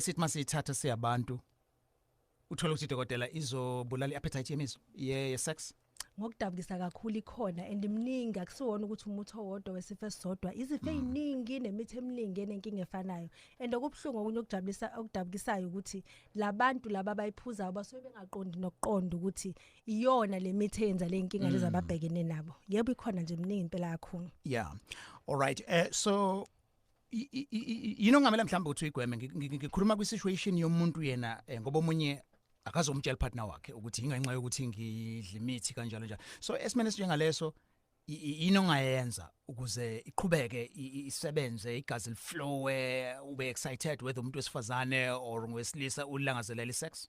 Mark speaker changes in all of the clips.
Speaker 1: sithi masiyithatha siyabantu uthola ukuthi dokotela izobulala i-appetite yemizo ye-sex ngokudabukisa
Speaker 2: kakhulu ikhona and imningi akusiwona ukuthi umuthi owodwa wesifo esisodwa izifo mm. eziningi nemithi eminingi enenkinga efanayo and okubuhlungu okunye okujabulisa okudabukisayo ukuthi labantu laba bayiphuzayo basuke bengaqondi nokuqonda ukuthi iyona lemithi eyenza lenkinga mm. lezababhekene nabo yebo ikhona nje imningi impela yakho yeah all
Speaker 1: right uh, so yini ongamela mhlawumbe ukuthi uyigweme ngikhuluma kwi-situation yomuntu yena um ngoba omunye akazomtshela upartner wakhe ukuthi yingenxa yokuthi ngidla imithi kanjalo njalo so esimeni esinjengaleso yini ongayenza ukuze iqhubeke isebenze igazi liflowe ube excited whether umuntu wesifazane or ngowesilisa ulangazelela isex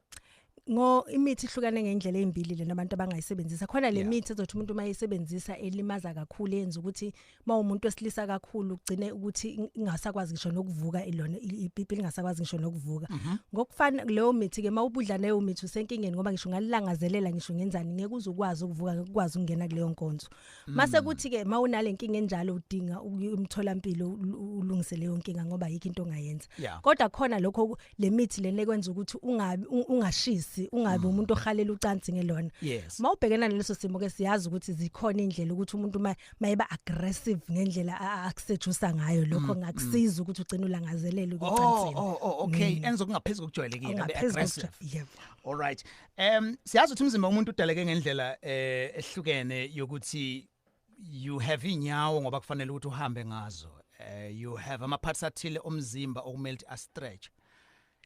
Speaker 1: ngo
Speaker 2: imithi ihlukane ngendlela ezimbili lena abantu abangayisebenzisa khona le mithi ezothi umuntu uma yisebenzisa elimaza kakhulu yenza ukuthi uma umuntu wesilisa kakhulu ugcine ukuthi ingasakwazi ngisho nokuvuka ilona ipipi lingasakwazi ngisho nokuvuka mhm. ngokufana leyo mithi ke mawubudla nayo mithi usenkingeni ngoba ngisho ngalilangazelela ngisho ngenzani ngeke uzukwazi ukuvuka ngeke ukwazi ukungena kuleyo nkonzo mase mm. kuthi ke mawunalenkinga enjalo udinga umtholampilo ulungise leyo nkinga ngoba yikho into ongayenza kodwa khona lokho lemithi lena ekwenza ukuthi ungabi ungashisi ungabi mm. umuntu ohalela ucansi ngelona mawubhekena naleso simo ke siyazi ukuthi zikhona indlela ukuthi umuntu mayeba aggressive ngendlela akusejusa ngayo lokho mm, ngakusiza ukuthi ugcine ulangazelele ukuthi oh, oh, oh okay enza
Speaker 1: kungaphezulu kujwayelekile be aggressive yebo all right Um siyazi ukuthi umzimba womuntu udaleke ngendlela eh ehlukene yokuthi you have inyawo ngoba kufanele ukuthi uhambe ngazo. Eh you have ama parts athile omzimba okumele ukuthi a stretch.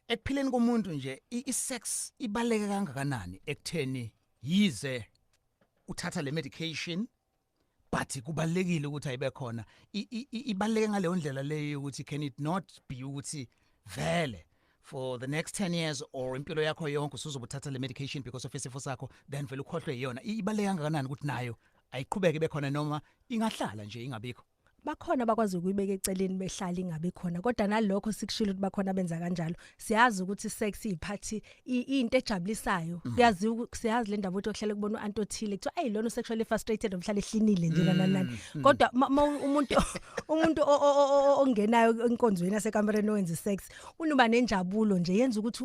Speaker 1: Ekuphileni komuntu nje i- i-sex ibaleke kangakanani ekutheni yize uthatha le medication but kubalekile ukuthi ayibe khona ibaleke ngaleyo ndlela leyo ukuthi can it not be ukuthi vele for the next 10 years or impilo yakho yonke usuzobuthatha le medication because of isifo sakho then vele ukhohlwe iyona ibaleka kangakanani ukuthi nayo ayiqhubeke bekhona noma ingahlala nje ingabikho bakhona abakwazi
Speaker 2: ukuyibeka eceleni behlali ngabe khona kodwa nalokho sikushilo ukuthi bakhona benza kanjalo siyazi ukuthi sex iphathi into ejabulisayo mhm. uyazi siyazi le ndaba ukuthi ohlele kubona uant othile kuthiwa ayi lona sexually frustrated omhlala ehlinile nje lana nani mhm, mhm. kodwa umuntu umuntu ongenayo enkonzweni yasekambereni owenza sex unuba nenjabulo nje yenza ukuthi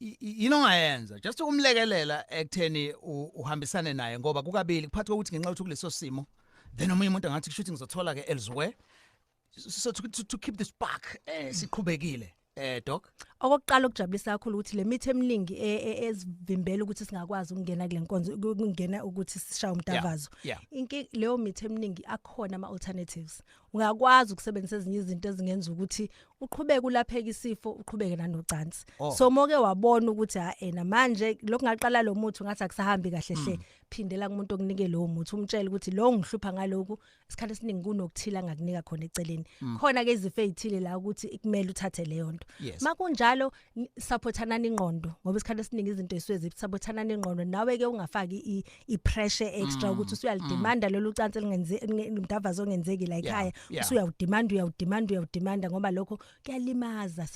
Speaker 1: yini ongayenza just ukumlekelela ekutheni uhambisane naye ngoba kukabili kuphathi kokuthi ngenxa yokuthi kuleso simo then omunye umuntu angathi kushuthi ngizothola ke elsewhere so to, to, to keep the spark eh, siqhubekile eh doc okokuqala okujabulisa
Speaker 2: kakhulu ukuthi le mithi eminingi e, e, ezivimbela ukuthi singakwazi ukungena kule nkonzo ukungena ukuthi sishaye umtavazo inki leyo mithi eminingi akhona ama alternatives uyakwazi ukusebenzisa ezinye izinto ezingenza ukuthi uqhubeke ulapheke isifo uqhubeke nanocansi oh. so moke wabona ukuthi ha ena manje lokhu ngaqala lo muthi ngathi akusahambi kahle hle hmm. phindela kumuntu okunike lowo muthi umtshele ukuthi lo ngihlupha ngaloku isikhathi esiningi kunokuthila ngakunika khona eceleni hmm. khona ke izifo ezithile la ukuthi ikumele uthathe leyo nto makunjalo saphothanani ingqondo ngoba isikhathi esiningi izinto esuke zisaphothanani ingqondo nawe ke ungafaki i pressure extra mm, ukuthi usuyalidemanda mm. lolu cansi lingenze umdavazo ongenzeki la ekhaya usuyawudemanda uyawudemanda uyawudemanda ngoba lokho kuyalimaza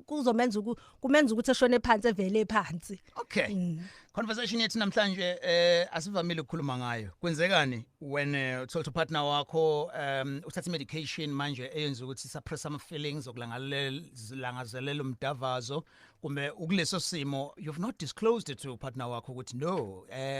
Speaker 2: kuzomenza kumenza ukuthi eshone phansi evele phansi Okay. Mm.
Speaker 1: Conversation yethu namhlanje eh asivamile ukukhuluma ngayo. Kwenzekani when eh, uthola uh, partner wakho um uthatha medication manje eyenza ukuthi suppress ama feelings okulangazelela umdavazo kumbe ukuleso simo you've not disclosed it to partner wakho ukuthi no eh